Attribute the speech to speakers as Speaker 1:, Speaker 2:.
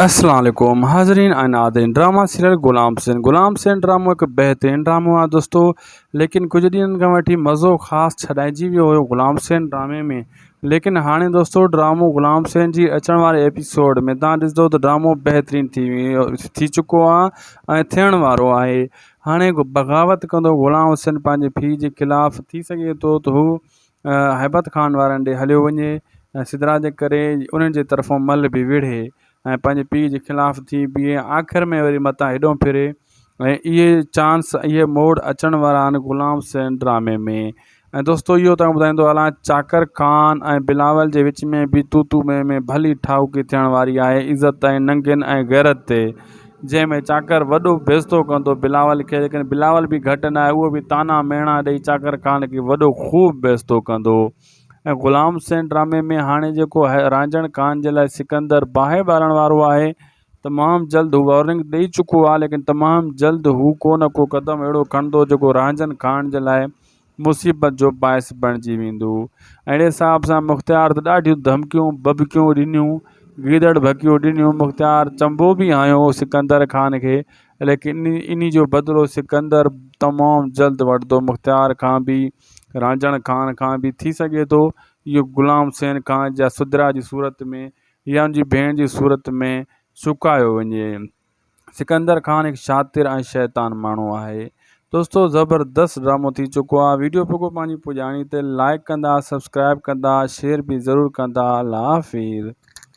Speaker 1: اسلام عليڪم حاضرين ۽ ناظرين ڊرامه سيريل غلام حسين غلام حسين ڊرامو هڪ بهترين ڊرامو آهي دوستو ليڪن ڪجهه ڏينهن کان وٺي مزو خاص ڇڏائجي ويو هيو غلام حسين ڊرامي ۾ ليڪن هاڻي دوستو ڊرامو غلام حسين جي اچڻ واري ايپيسوڊ ۾ تان ڏسندو ته ڊرامو بهترين ٿي ويو ٿي چڪو آهي ۽ ٿيڻ وارو آهي هاڻي بغاوت ڪندو غلام حسين پنهنجي پيء جي خلاف ٿي سگهي ٿو ته هو هيبت خان وارن ڏي هليو وڃي ۽ سدرا جي ڪري انهن جي طرفون مل به وڙهي ۽ پنهنجي پيء جي خلاف ٿي بيهي آخر ۾ وري متان هيڏهون ڦري ۽ اهي چانس اهي موڙ اچڻ وارا آهن غلام حسين ڊرامي ۾ ۽ دوستو اهو توهان کي ٻڌائيندو هلان چاڪر خان ۽ بلاول جي وچ ۾ به تو تو مين مين ڀلي ٺاهوڪي ٿيڻ واري آهي عزت ۽ ننگين ۽ غيرت تي جنهن ۾ چاڪر وڏو بيستو ڪندو بلاول کي ليڪن بلاول به گهٽ نه آهي اهو به طعنا ميڻا ڏئي چاڪر خان کي وڏو خوب بيستو ڪندو ۽ غلام حسين ڊرامي ۾ هاڻي جيڪو رانجهڻ خان جي لاء سڪندر باهه ٻارڻ وارو آهي تمام جلد هو وارننگ ڏئي چڪو آهي ليڪن تمام جلد هو ڪو نه ڪو قدم اهڙو کڻندو جيڪو رانجهن خان جي لاء مصيبت جو باعث بڻجي ويندو. اهڙي حساب سان مختيار ته ڏاڍيون ڌمڪيون ٻٻڪيون ڏنيون، گيدڙ ڀڪيون ڏنيون، مختيار چنبو به هنيو هو سڪندر خان کي، ليڪن انهي جو بدلو سڪندر تمام جلد وٺندو، مختيار کان به، رانجهڻ خان کان به، ٿي سگهي ٿو اهو غلام حسين خان جا سدرا جي صورت ۾ يا ان جي ڀيڻ جي صورت ۾ چڪايو وڃي. سڪندر خان هڪ شاطر ۽ شيطان ماڻهو آهي. دوستو زبردست ڊرامو ٿي چڪو آ ويڊيو پڳو پنهنجي پڄاڻي تي لائيڪ ڪندا سبسڪرائيب ڪندا شيئر به ضرور ڪندا الله حافظ.